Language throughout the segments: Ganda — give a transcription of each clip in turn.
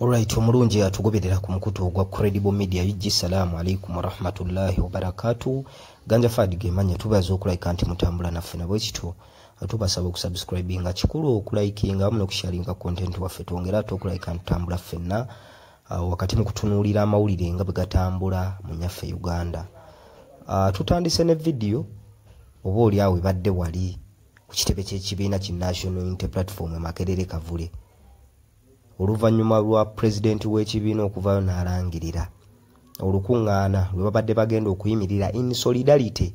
Alright, omulungi atugoberera ku mukutu ogwa Credible Media UG Salaamu alaikum warahmatullahi wabarakatuh. Ganja Fadi gemanya tubaza okulika nti mutambula naffe nabwe kityo. Tubasaba okusubscribinga kikulu okulikinga wamu nokusharinga content waffe twongera ate okulika nti tambula ffenna uh, wakati mu kutunuulira amawulire nga bwe gatambula mu nyaffe Uganda. Uh, tutandise ne vidiyo oba oli awo ebadde wali ku kitebe ky'ekibiina ki National Unity Platform e Makerere Kavule. oluvannyuma lwa pulezidenti w'ekibiina okuvaayo n'alangirira olukuŋŋaana lwe babadde bagenda okuyimirira in solidarity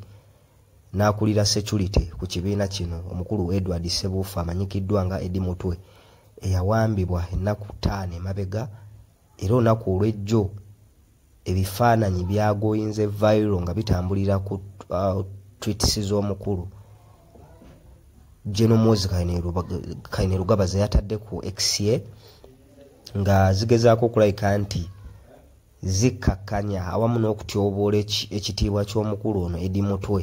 n'akulira security ku kibiina kino omukulu edward sebuufu amanyikiddwa nga edi mutwe eyawambibwa ennaku ttaano emabega era olunaku olw'ejjo ebifaananyi byagoyinze viral nga bitambulira ku uh, tweets z'omukulu genomozi kaine lugaba zeyatadde ku exye nga zigezaako okulabika nti zikkakkanya awamu n'okutyoboola ekitiibwa ky'omukulu ono edi mutwe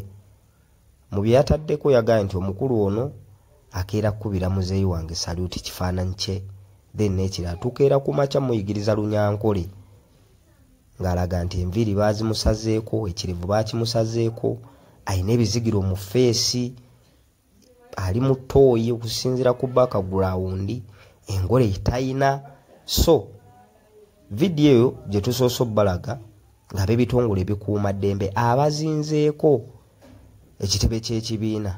mu bye yataddeko yagambye nti omukulu ono akeera kukubira muzeeyi wange saluti kifaananyi kye then n'ekirala tukeera ku makya muyigiriza lunyankole ng'alaga nti enviiri baazimusazeeko ekirevu baakimusazeeko alina ebizigiro mu feesi ali mu tooyi okusinziira ku bakagulawundi engole etalina so vidiyo eyo gye tusoose obbalaga ng'ab'ebitongole ebikuuma ddembe abazinzeeko ekitebe ky'ekibiina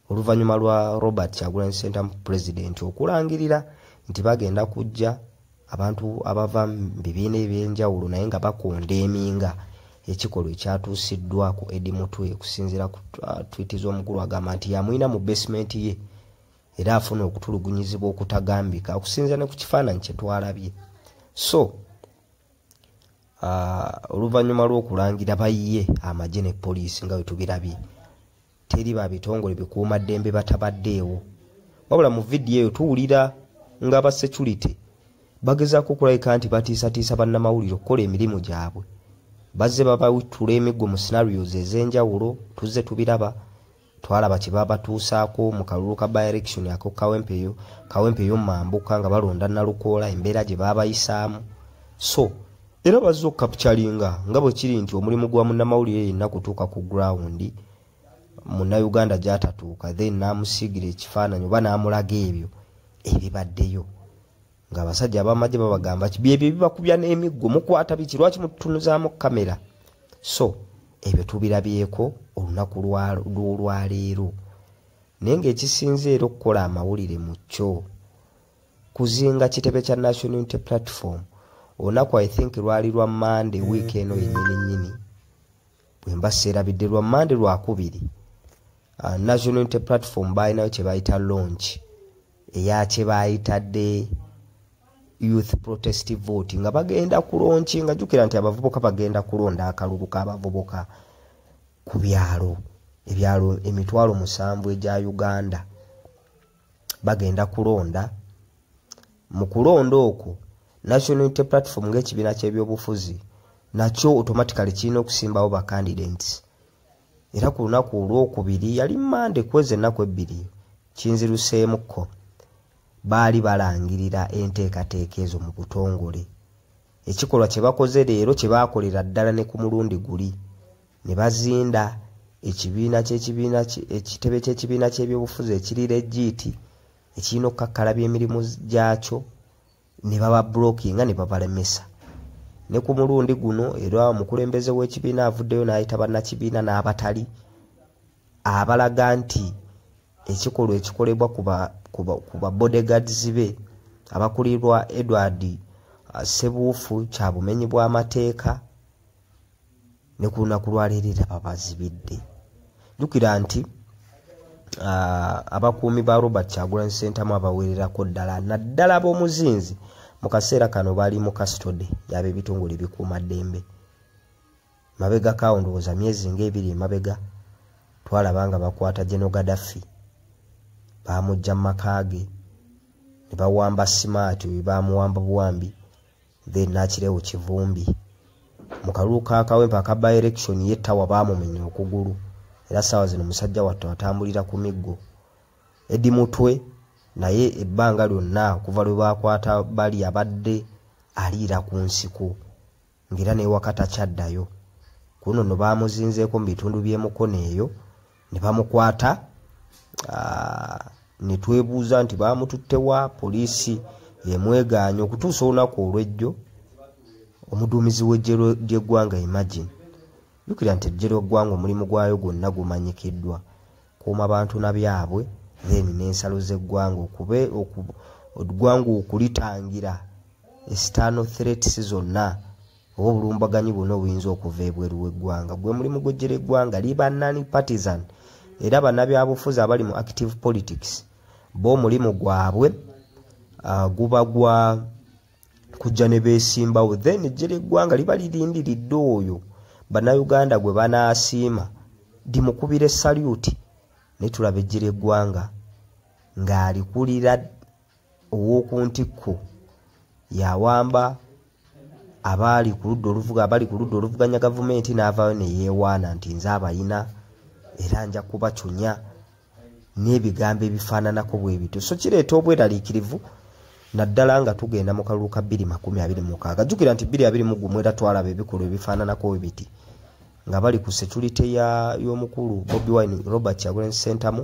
oluvannyuma lwa robert kyagulanyi center president okulangirira nti bagenda kujja abantu abava mu bibiina eby'enjawulo naye nga bakonda eminga ekikolwa ekyatuusiddwa ku edi mutwe okusinziira ku uh, twiti z'omukulu agamba nti yamulina mu basementi ye era afuna okutulugunyizibwa okutagambika okusinziira ne ku kifaananyi kye twalabye so Ah, oluvannyuma lw'okulangira bayiye amagye ne poliisi nga wetubirabye teri ba bitongole bikuuma ddembe batabaddeewo wabula mu vidiyo eyo tuwulira nga aba security bagezaako okulabika nti batiisatiisa bannamawulire okukola emirimu gyabwe bazze babawitula emiggo mu scenarios ez'enjawulo tuzze tubiraba twalaba kye babatuusaako mu kalulu ka byelection ako kawempeyo kawempeyo mambuka nga balonda nalukoola embeera gye baabayisaamu so era bazze okukapcalinga nga bwe kiri nti omulimu gwa munnamawulire yenna kutuuka ku grawundi munnauganda gyatatuuka then naamusiigira ekifaananyi oba naamulaga ebyo ebibaddeyo ng'abasajja abamagye babagamba ki byebyo bibakubya n'emiggo mukwata biki lwaki mututunuzaamu kamera so ebyo tubirabyeko olunaku lw'olwaleero naye ng'ekisinze era okukola amawulire mu kyo kuzinga kitebe kya national unity platform olunaku i think lwali lwa mande wiiki eno yenyini nyini bwe mba seerabidde lwa mande lwakubiri uh, national unity platform baalinayo kye bayita launch eya kye baayitadde youth protest vote nga bagenda kulonki nga jukira nti abavubuka bagenda kulonda akalulu k'abavubuka ku byalo ebyalo emitwalo musanvu egya uganda bagenda kulonda mu kulonda okwo national unity platform ng'ekibiina ky'ebyobufuzi nakyo automatically kirina okusimbawo bacandidants era ku lunaku olwokubiri yali mande kweza ennaku ebbiri kinziruseemukko baali balangirira enteekateeka ezo mu butongole ekikolwa kye bakoze leero kye baakolera ddala ne ku mulundi guli ne bazinda ekibiina kyekibiina ekitebe ky'ekibiina ky'ebyobufuzi ekiri legiiti ekirina okukakkalabya emirimu gyakyo ne baba blockinga ne babalemesa ne ku mulundi guno era omukulembeze w'ekibiina avuddeyo n'ayita bannakibiina n'abatali abalaga nti ekikolwa ekikolebwa ku ba bodyguards be abakulirwa edward uh, sebuufu kya bumenyi bw'amateeka ne ku lunaku lwaleero era babazibidde jjukira nti ah, abakuumi ba robert kyagulanyi sentamu abawererako ddala naddala b'omuzinzi mu kaseera kano bali mu kastode yaba ebitongole bikuuma ddembe mabega kawo ndowooza myezi ngaebiri emabega twalaba nga bakwata geno gadaffi baamujja mu maka ge ne bawamba simaati oyo baamuwamba buwambi then nakirewo kivumbi mu kalulu ka kawempe aka by election ye tawa baamumenya okugulu era saawa zino musajja wattu atambulira ku miggo edi mutwe naye ebbanga lyonna okuva lwe baakwata bali abadde aliira ku nsiko ng'era newaka takyaddayo kuno no baamuzinzeeko mu bitundu by'emukono eyo ne bamukwata ne twebuuza nti baamututte wa poliisi emwegaanya okutuusa olunaku olwejjo omuduumizi w'eggye ly'eggwanga imagine jukira nti eggye ly'eggwanga omulimu gwayo gwonna gumanyikiddwa kuuma bantu na byabwe then n'ensalo z'eggwanga okube eggwanga okulitangira esitaano threats zonna oba obulumbaganyi bwona obuyinza okuva ebweru weggwanga gwe mulimu gwejjera eggwanga liba nani partisan era banabyabufuzi abali mu active politics bo omulimu gwabwe uh, guba gwa kujja ne beesimbawo then ejjera eggwanga liba lirindiridde oyo bannayuganda gwe banaasiima limukubire saluti naye tulaba ejjera eggwanga ng'alikulira ow'oku ntikko yawamba abaali ku ludda oluvuga abali ku ludda oluvuganya gavumenti n'avaayo ne yeewaana nti nze abayina era nja kubacunya n'ebigambo ebifaananako bwe bityo so kireeta obweraliikirivu naddala nga tugenda mu kalulu ka bbiri makumi abiri mukaaga jjukira nti bbiri abiri mu gumu era twalaba ebikolwa ebifaananako we biti nga bali ku securite y'omukulu bobi wine robert kyagulanyi sentamu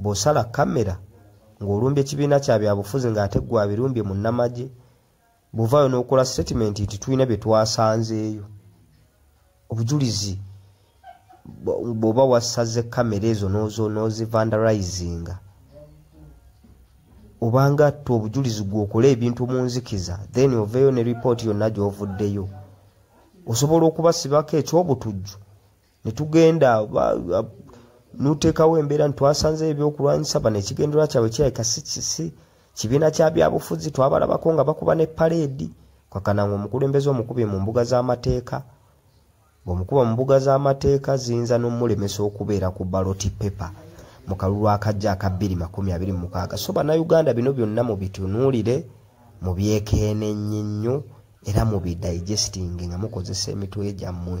bw'osala kamera ng'olumbye ekibiina kya byabufuzi ng'ate gwe abirumbye mu nnamagye bw'ovaayo n'okola sitatimenti nti tulina bye twasanzeeyo obujulizi bw'oba wasaze kamera ezo n'ozivandarizinga obanga atta obujulizi gweokola ebintu mu nzikiza then oveeyo ne ripooti yonna gy'ovuddeyo osobola okubasibako eky'obutujju ne tugenda nuteekawo embeera nitwasanzeyo ebyokulwanyisa bano ekigendererwa kyabwe kirabika sikisi kibiina kya byabufuzi twabalabako nga bakuba ne paleedi kakana nga omukulembeze omukubye mu mbuga z'amateeka bwemukuba mu mbuga z'amateeka ziyinza n'omulemesa okubeera ku baloti pepa mu kalulu akajja aka 226 so bannayuganda bino byonna mubitunuulire mubyekeenennye nnyo era mubidigestinge nga mukozesa emitwe gyammwe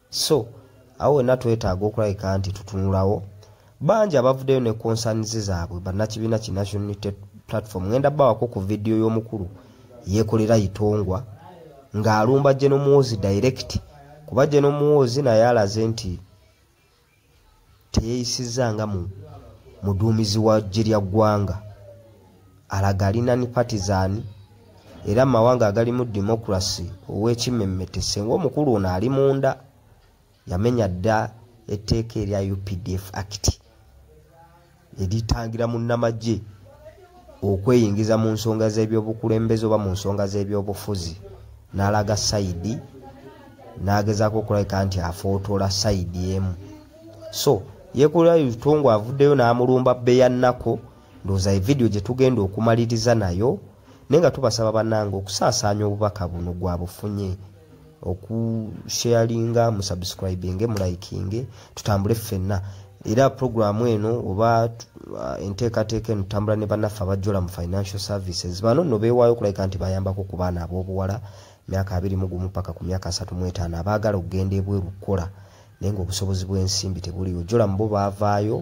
so awo wena twetaaga okulabika nti tutunulawo bangi abavuddeyo ne concerns zaabwe bannakibiina ki national unity platform ngenda bawako ku vidiyo y'omukulu yekolera itongwa ng'alumba genomuwozi direct kuba genomuwozi naye alaze nti teyeyisizza nga mu muduumizi wa ggye lya ggwanga alaga alina ni patizani era mu mawanga agalimu demokurasi ow'ekimmemmete senga omukulu ono ali munda yamenya dda etteeka erya updf act eritangira munnamagye okweyingiza mu nsonga z'ebyobukulembeze oba mu nsonga z'ebyobufuzi n'alaga sayidi n'agezaako okulabika nti afootoola sayidi emu so yekolera lutongo avuddeyo n'amulumba beyannako ndowooza evidiyo gye tugenda okumaliriza nayo naye nga tubasaba bannange okusaasaanya obubaka buno gwa bufunye okusharinga musubscribinge mulayikinge tutambule ffenna era puroguramu eno oba uh, enteekateeka eno tutambula ne bannaffe abajjola mu financial services bano no beewaayo okulabika nti bayambako ku baana ab'obuwala myaka abiri mu gumu paka ku myaka asatu mu etaano abaagala okugenda ebweru kukola naye ngaobusobozi bw'ensimbi tebuliwo jola mubo baavaayo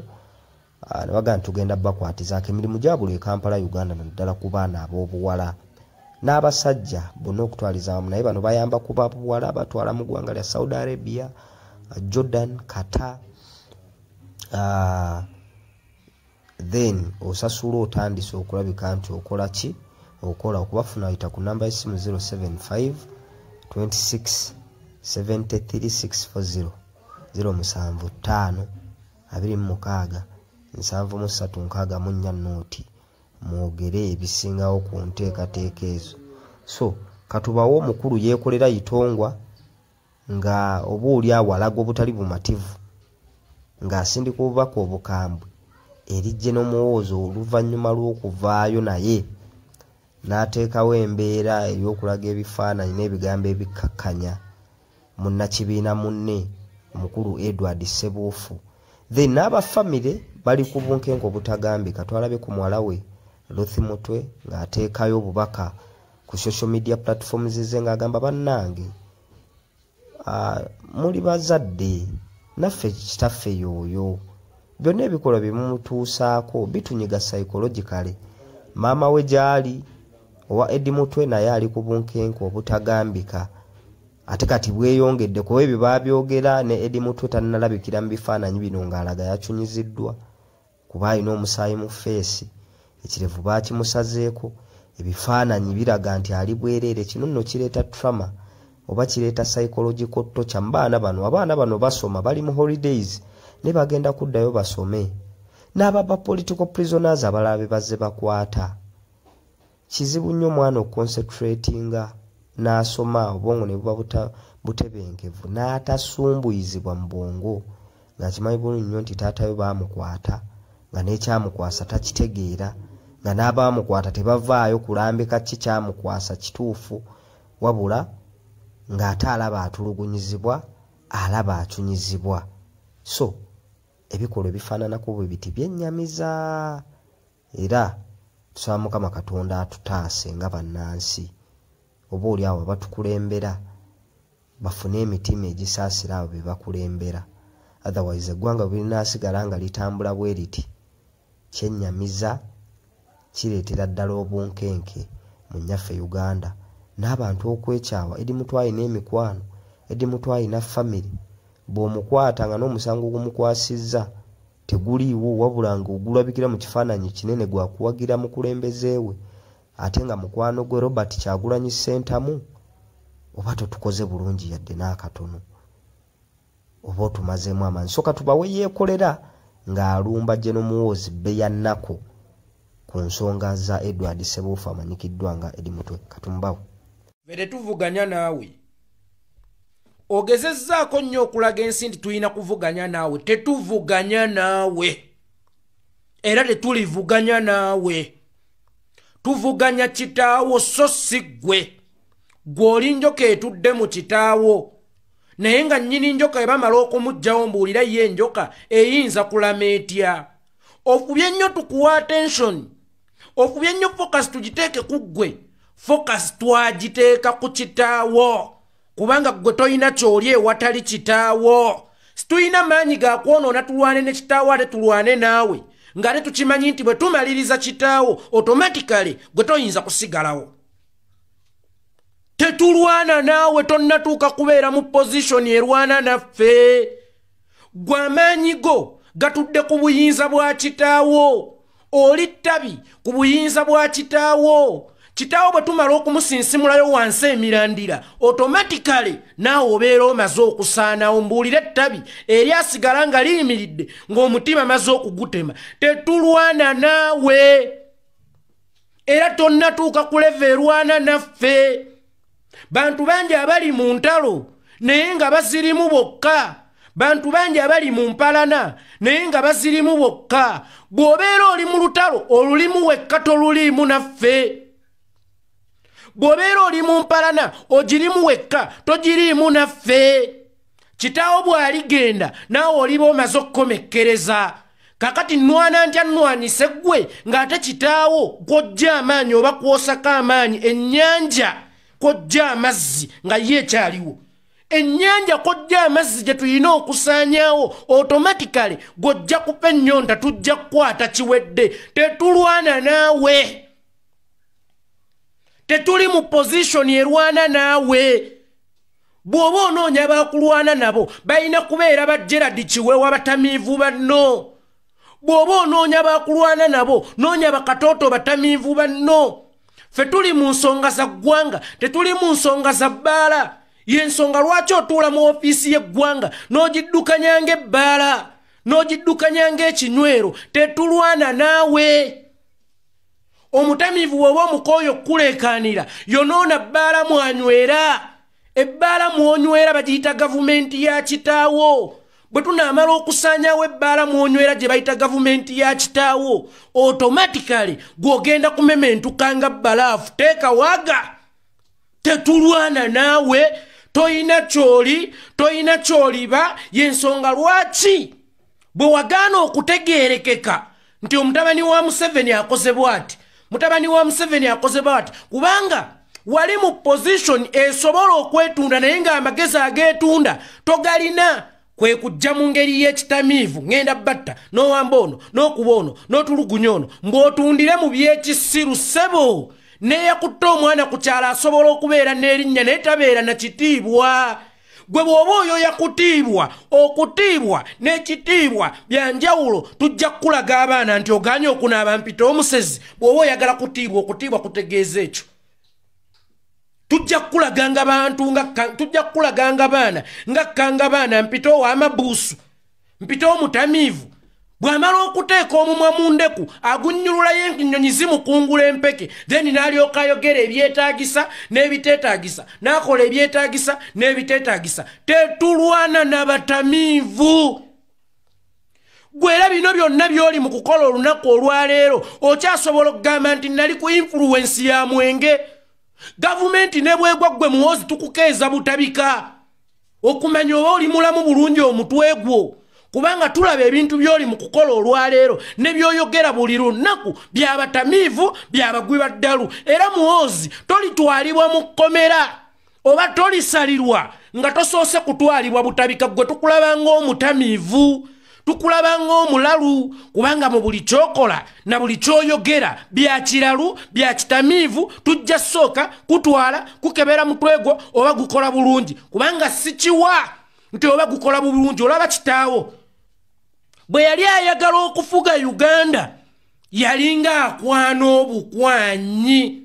Ah, nebaga nti tugenda bakwatizaako emirimu gyabuli e kampala uganda naddala ku baana ab'obuwala n'abasajja bonna okutwaliza wamu naye bano bayamba kuba buwala batwala mu ggwanga lya saudi arabia ah, jordan kata ah, then osasula otandise okulabika nti okola ki okola okubafuna yita ku namba yesimu 075 26 73640 07 5 abiri mu mukaaga nsanvu mu ssatu nkaaga mu nnya nooti mwogere ebisingawo ku nteekateeka ezo so katubawo omukulu yeekolera itongwa nga oba oli awo alaga obutali bumativu ng'asindika obubaka obukambwe erijje n'omuwoozo oluvannyuma lw'okuvaayo naye n'ateekawo embeera ey'okulaga ebifaananyi n'ebigambo ebikkakkanya munnakibiina munne omukulu edward sebuufu then n'aba famire bali ku bunkenke obutagambika twalabe ku muwala we luthi mutwe ng'ateekayo obubaka ku social media platforms ze ng'agamba bannange ah, muli bazadde naffe kitaffe yooyo byonna ebikolwa bye mumutuusaako bitunyiga psychologically maama we gy'ali owa edi mutwe naye ali ku bunkenke obutagambika ate kati bweyongedde kuba ebyo babyogera ne edi mutwe tanalabikira mu bifaananyi bino ng'alaga yakyunyiziddwa kuba alina omusaayi mu feesi ekirevu baakimusazeeko ebifaananyi biraga nti ali bwereere kino nno kireeta trama oba kireeta psychological tocha mu baana bano abaana bano basoma bali mu holidays naye bagenda kuddayo basome n'ababa political prisoners abalala be bazze bakwata kizibu nnyo omwana okukonsetratinga n'asoma obwongo ne buba butebenkevu n'atasumbuyizibwa mu bwongo ng'akimanyi bulungi nnyo nti taatayo baamukwata nga n'ekyamukwasa takitegeera nga n'abaamukwata tebavaayo kulambika ki kyamukwasa kituufu wabula ng'ate alaba atulugunyizibwa alaba acunyizibwa so ebikolwa ebifaananako bwe biti byennyamiza era tusaba mukama katonda atutaase nga bannansi oba oli awo abatukulembera bafune emitima egisaasira abo be bakulembera otherwise eggwanga bwerinaasigala nga litambula bwe liti kyennyamiza kireetera ddala obunkenke mu nnyaffe uganda n'abantu okwekyawa edi mutu alina emikwano edi mutu alina famiry bw'omukwata nga n'omusango gumukwasizza teguliiwo wabula nga ogulabikira mu kifaananyi ekinene gwa kuwagira mukulembeze we ate nga mukwano gwe robert kyagulanyi ssentamu oba totukoze bulungi yadde n'akatono oba otumazeemu amaanyi soka tubawe yeekolera ng'alumba geno muwoozi bbe ya nnaku ku nsonga za edward sebuufu amanyikiddwa nga edi mutwe katumbawo vere tuvuganya naawe ogezezzaako nnyo okulaga ensi nti tulina kuvuganya naawe tetuvuganya naawe era tetulivuganya naawe tuvuganya kitaawo so si ggwe gwe oli njoka etudde mu kitaawo naye nga nnyini njoka ebamala okumuggyawo mbuulira ye enjoka eyinza kulama etya okubye nnyo tukuwa atensioni ofubye nnyo focus tugiteeke ku ggwe focus twagiteeka ku kitaawo kubanga ggwe tolina kyoli ewatali kitaawo situlina maanyi gakwonoona tulwane ne kitaawo ate tulwane naawe ng'ate tukimanyi nti bwe tumaliriza kitaawo otomatikale gwe toyinza kusigalawo tetulwana naawe tonnatuuka kubeera mu pozishoni erwana naffe gwe amaanyi go gatudde ku buyinza bwa kitaawo oli ttabi ku buyinza bwa kitaawo kitaawo bwe tumala okumusinsimulayo wansi emirandira otomatikale naawe obeera omaze okusaanawo mbuulire ettabi eri asigala nga liyimiridde ng'omutima maze okugutema tetulwana naawe era tonnatuuka kuleva erwana naffe bantu bangi abali mu ntalo naye nga bazirimu bokka bantu bangi abali mu mpalana naye nga bazirimu bokka bw'obeera oli mu lutalo olulimu wekka toluliimu naffe bw'obeera oli mu mpalana ogirimu wekka togiriimu naffe kitaawo bw'aligenda naawe oliba omaze okukomekkereza kakati nwana ntya nwanise ggwe ng'ate kitaawo kwojja amaanyi oba kwosako amaanyi ennyanja kwojja amazzi nga ye ekyaliwo ennyanja kojja amazzi gye tulina okusaanyawo otomatikale gwojja kupa ennyonta tujja kukwata kiwedde tetulwana naawe tetuli mu pozishoni erwana naawe bw'oba onoonya bakulwana nabo balina kubeera ba gerard kiwewa batamiivu banno bw'oba onoonya bakulwana nabo noonya bakatooto batamiivu banno fe tuli mu nsonga za ggwanga tetuli mu nsonga za bbaala yensonga lwaki otuula mu ofiisi y'eggwanga n'ogiddukanya ng'ebbaala n'ogiddukanya ng'ekinywero tetulwana naawe omutamiivu woba omukooyo okukuleekaanira yonoona bbaala mwanywera ebbaala mwonywera bagiyita gavumenti ya kitaawo bwe tunaamala okusaanyawo ebbaala mwonywera gye bayita gavumenti ya kitaawo otomatikale gw'ogenda kumementuka nga bbalaafu teeka waga tetulwana naawe toyina kyoli toyina kyoliba yensonga lwaki bwe wagaana okutegeerekeka nti omutabani wa museveni akoze bwati mutabani wa museveni akoze bwati kubanga wali mu pozishoni esobola okwetunda naye ng'amagezi ageetunda togalina kwe kujja mu ngeri y'ekitamiivu ŋŋenda batta n'owamba ono n'okuba ono n'otulugunya ono mbw'otundire mu by'ekisiru ssebo neeyakutte omwana ku kyalo asobola okubeera n'erinnya naye tabeera na kitiibwa gwe bw'oba oyo yakutiibwa okutiibwa n'ekitiibwa bya njawulo tujja kukulaga abaana nti oganye okunaaba mpita omusezi bw'oba oyagala kutiibwa okutiibwa kutegeeza ekyo tujja kukulaganga bantu tujja kukulaganga baana nga kkanga baana mpita ow'amabuusu mpite omutamiivu bw'amala okuteeka omumwa mu ndeku agunnyululayo ennyonyi zimukungula empeke then n'alyoka ayogera ebyetaagisa n'ebiteetaagisa n'akola ebyetaagisa n'ebiteetaagisa tetulwana n'abatamiivu gwera bino byonna by'oli mu kukola olunaku olwaleero okyasobola okugamba nti nali ku influwensi ya mwenge gavumenti ne bwegwa ggwe muwoozi tukukeeza butabika okumanya oba oli mulamu bulungi omutwe gwo kubanga tulaba ebintu byoli mu kukola olwaleero ne byoyogera buli lunaku byabatamiivu byabagwi baddalu era muwoozi tolitwalibwa mu kkomera oba tolisalirwa nga tosoose kutwalibwa butabika gwe tukulaba ng'omutamiivu tukulaba ng'omulalu kubanga mu buli kyokola na buli kyoyogera bya kiralu bya kitamiivu tujja sooka kutwala kukebera mutwe gwo oba gukola bulungi kubanga sikiwa nti oba gukola bulungi olaba kitaawo bwe yali ayagala okufuga uganda yalinga akwana obukwanyi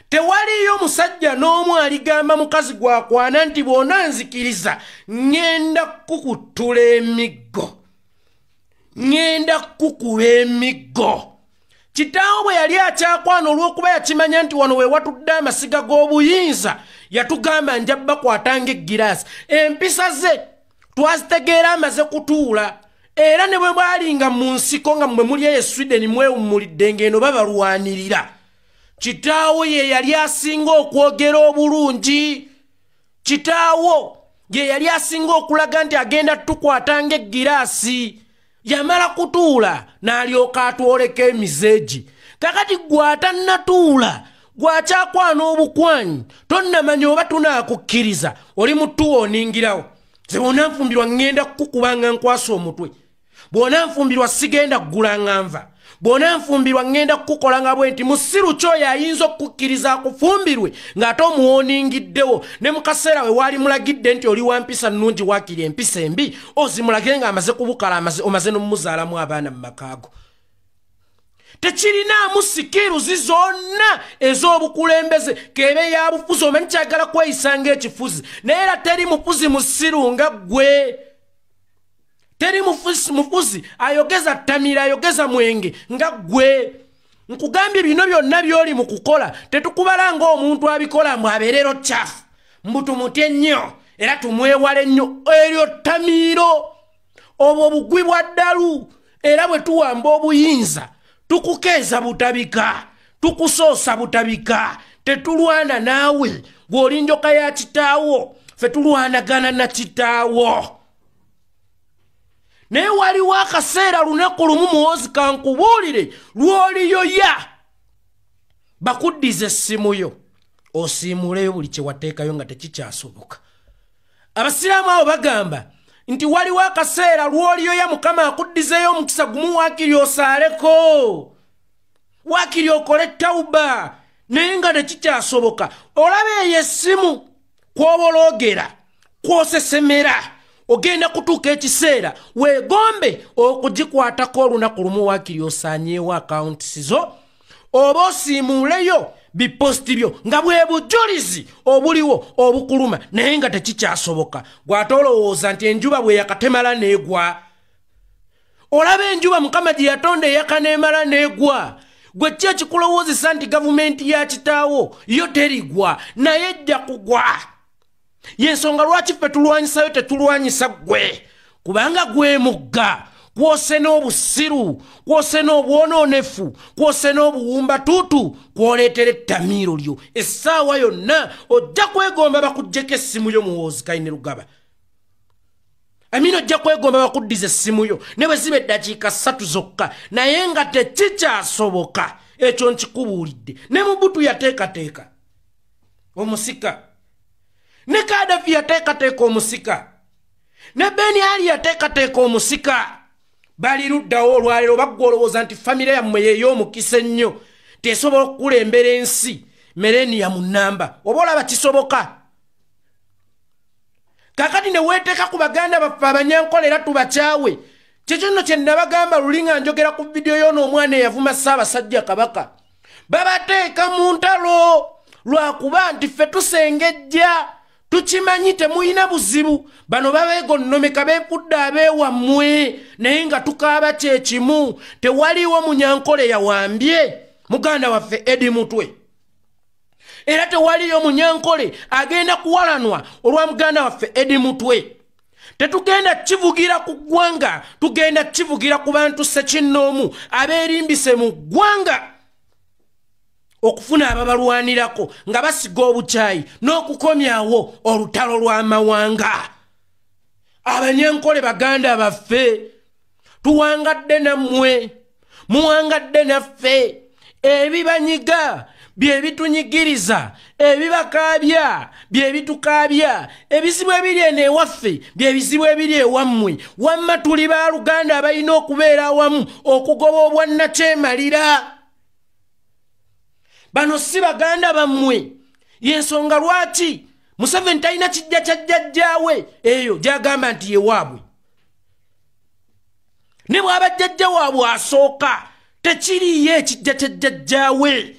tewaliyo musajja n'omu aligamba mukazi gwakwana nti bwona nzikiriza ŋŋenda kukutula emiggo ŋŋenda kukuba emiggo kitaawo bwe yali akyakwana olw'okuba yakimanya nti wano we watudde amasiga g'obuyinza yatugamba nja bakwata ng'eggiraasi empisa ze twazitegeera amaze kutuula era ne bwe bwalinga mu nsiko nga mwe muli eyo sweden mwewummulidde ng'eno babalwanirira kitaawo ye yali asinga okwogera obulungi kitaawo ye yali asinga okulaga nti agenda tukwata ng'eggiraasi yamala kutuula n'alyoka atwoleka emizeegi kakati gw'atannatuula gwakyakwana obukwanyi tonnamanya oba tunaakukkiriza oli mutuwa oningirawo ze bonna nfumbirwa ŋŋenda kukukubanga nkwasa omutwe bwona nfumbirwa sigenda kugula nga nva bwona nfumbirwa ŋŋenda kukukola nga bwe nti musiru kyoyo ayinza okukukkiriza akufumbirwe ng'ate omuwooningiddewo ne mu kaseera we waali mulagidde nti oli wa mpisa nnungi waakiri empisa embi ozimulagire ng'amaze kubukala amaze omaze n'omumuzaalamu abaana mu makaago tekirinaamu sikiruzi zonna ez'obukulembeze keebe yabufuzi omanyi kyagala kweyisa ng'ekifuzi naye era teri mufuzi musiru nga ggwe teri mufuzi ayogeza tamiira ayogeza mwenge nga gwe nkugambye bino byonna byoli mu kukola tetukubala ngaomuntu abikola mbu abeerero kyafu mbu tumutye nnyo era tumwewala ennyo eryo tamiiro obwo bugwi bwa ddalu era bwe tuwamba obuyinza tukukeeza butabika tukusoosa butabika tetulwana naawe gweolinjoka ya kitaawo fe tulwanagana na kitaawo naye waliwo akaseera lunaku lumu muwozi kankubuulire lwoliyoya bakuddiza essimu yo osiimuuleyo buli kyewateekayo nga tekikyasoboka abasiraamu abo bagamba nti waliwo akaseera lwoliyoya mukama akuddizeyo omukisa gumu waakiri osaaleko waakiri okole tawuba naye nga tekikyasoboka olaba eyo essimu kwoboloogera kwosesemera ogenda kutuuka ekiseera weegombe okugikwatako olunaku lumu waakiri osaanyeewo akawuntisi zo oba osiimuuleyo biposti byo nga bwe bujulizi obuliwo obukuluma naye nga tekikyasoboka gw'ate olowooza nti enjuba bwe yakatemala neegwa olaba enjuba mukama gye yatonda eyaka n'emala n'egwa gwe ki ekikulowoozesa nti gavumenti ya kitaawo yo terigwa naye ejja kugwa yensonga lwaki ffe tulwanyisayo tetulwanyisa ggwe kubanga gwemugga kwose n'obusiru kwose n'obwonoonefu kwose n'obuwumba tuutu kwoleetera ettamiiro lyo essaawa yonna ojja kwegomba bakuggyeko essimu yo muwoozi kaine lugaba amina ojja kwegomba bakuddiza essimu yo ne bwe ziba eddakiika ssatu zokka naye nga tekikyasoboka ekyo nkikubuulidde ne mubutu yateekateeka omusika ne kadafi yateekateeka omusika ne beni ali yateekateeka omusika bali luddawo olwaleero baggwa olowooza nti famire yammwe yeeyo omukisa ennyo tesobola okukulembera ensi mereniya mu nnamba oba olaba kisoboka kakati ne weeteeka ku baganda baffe abanyankola era tubakyawe kyekyo nno kye nnabagamba luli nga njogera ku vidiyo yoona omwana eyavuma ssaabasajja kabaka babateeka mu ntalo lwakuba nti ffe tusengejja tukimanyi temulina buzibu bano babegonnomeka befudde abeewammwe naye nga tukaaba kyekimu tewaliwo munyankola eyawambye muganda waffe edi mutwe era tewaliyo munyankole agenda kuwalanwa olwa muganda waffe edi mutwe tetugenda kivugira ku ggwanga tugenda kivugira ku bantu sekinnoomu abeerimbise mu ggwanga okufuna ababalwanirako nga basiga obukyayi n'okukomyawo olutalo lw'amawanga abanyankole baganda baffe tuwangadde nammwe muwangadde naffe ebibanyiga bye bitunyigiriza ebibakaabya bye bitukaabya ebizibu ebiri eno ewaffe bye bizibu ebiri ewammwe wamma tuli ba luganda abalina okubeera awamu okugoba obwannakyemalira bano si baganda bammwe yensonga lwaki museveni talina kijja kya jjajjaawe eyo gyagamba nti yewaabwe ne bwaba jjajja waabwe asooka tekiriiyo ekijja kya jjajjaawe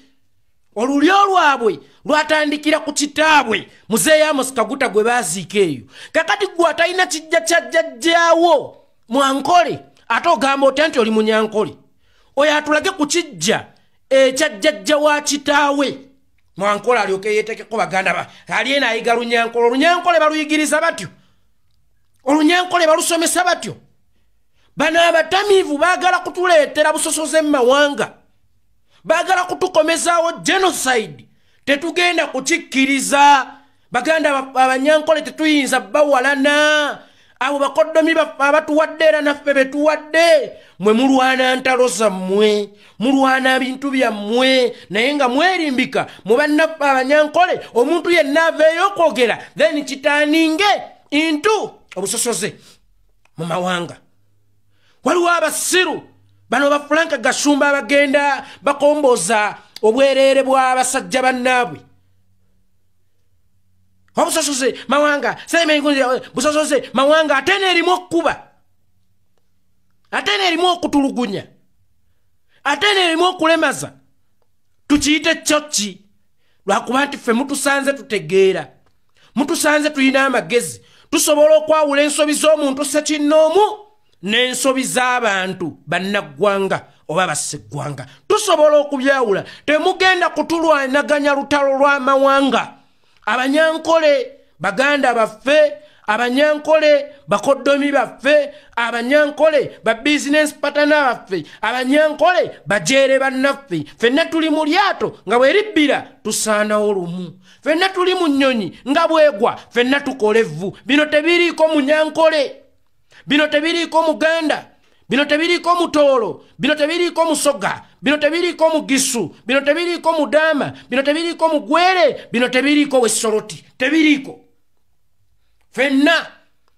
olulyo lwabwe lwatandikira ku kitaabwe muzeeyo amusikaguta gwe baaziika eyo kakati gwe atalina kijja kya jjajjaawo mwankole ate ogamba otya nti oli munyankole oyo atulage ku kijja ekya jjajja wa kitaawe mwankole alyoke yeetekeko baganda ba ali ena ayiga lunyankole olunyankole baluyigiriza batyo olunyankole balusomesa batyo bano abatamiivu baagala kutuleetera busosoze mu mawanga baagala kutukomezaawo genocide tetugenda kukikkiriza baganda abanyankole tetuyinza bawalana abo bakoddomi baffe abatuwadde era naffe betuwadde mwe mulwana ntalo zammwe mulwana bintu byammwe naye nga mwerimbika mu bannaffe abanyankole omuntu yenna aveeyo okwogera then kitaninge intu obusosoze mu mawanga waliwo abasiru bano bafulanka gasumba abagenda bakomboza obwereere bw'abasajja bannaabwe obusosoze mawanga semenbusosoze mawanga ate neerimu okukuba ate neerimu okutulugunya ate neerimu okulemaza tukiyite kyo ki lwakuba nti ffe mutusanze tutegeera mutusanze tulina amagezi tusobola okwawula ensobi z'omuntu sekinnoomu n'ensobi z'abantu bannaggwanga oba bassiggwanga tusobola okubyawula temugenda kutulwanaganya lutalo lw'amawanga abanyankole baganda baffe abanyankole bakoddomi baffe abanyankole ba bizinensi patana baffe abanyankole bajeere bannaffe fenna tuli mu lyato nga bwe libbira tusaanawo lumu fenna tuli mu nnyonyi nga bwegwa fenna tukola evvu bino tebiriiko munyankole bino tebiriiko muganda bino tebiriiko mutoolo bino tebiriiko musoga bino tebiriiko mugisu bino tebiriiko mudaama bino tebiriiko mugwere bino tebiriiko wesoroti tebiriiko fenna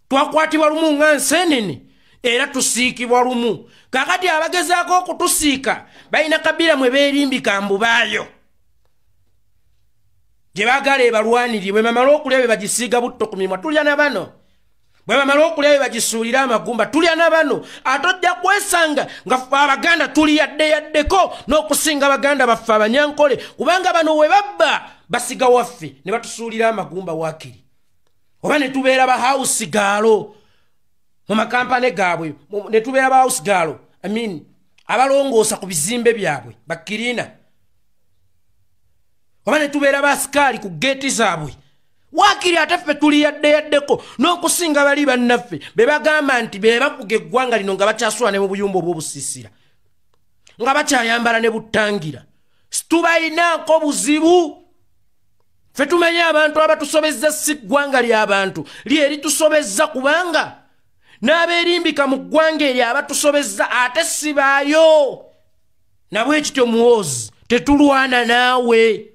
twakwatibwa lumu nga nsenene era tusiikibwa lumu kakati abagezaako okutusiika balina kabira mwe beerimbika mbubaayo gye bagala ebalwaniribwe mamala okulya be bagisiiga butto ku mimwa tulya na bano bwe bamala okulya bye bagisuulire amagumba tulya na bano ate ojja kwesanga nga abaganda tuli yadde yaddeko n'okusinga baganda baffe abanyankole kubanga bano we babba basiga waffe ne batusuulira amagumba waakiri oba ne tubeera bahausi gaalo mu makampane gaabwe ne tubeera bahausi gaalo amin abalongoosa ku bizimbe byabwe bakirina oba ne tubeera basikaali ku geeti zaabwe waakiri ate ffe tuli yadde yaddeko n'okusinga bali bannaffe be bagamba nti be bakuga eggwanga lino nga bakyasula ne mu buyumba obw'obusiisira nga bakyayambala ne buttangira situbalinaako buzibu ffe tumanyi abantu abatusobezza si ggwanga ly'abantu lye litusobezza kubanga n'abeerimbika mu ggwanga eryo abatusobezza ate sibaayo nabwe kityo muwozi tetulwana naawe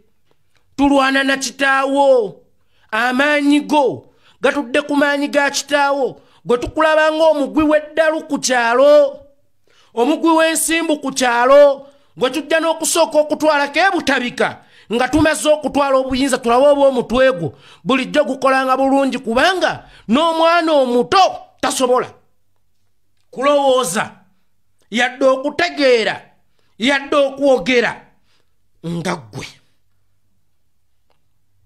tulwana na kitaawo amaanyi go gatudde ku maanyi ga kitaawo gwe tukulaba ng'omugwi w'eddalu ku kyalo omugwi w'ensimbu ku kyalo gwe tujja n'okusooka okutwalako ebutabika nga tumaze okutwala obuyinza tulabe oba omutwe gwo bulijjo gukolanga bulungi kubanga n'omwana omuto tasobola kulowooza yadde okutegeera yadde okwogera nga ggwe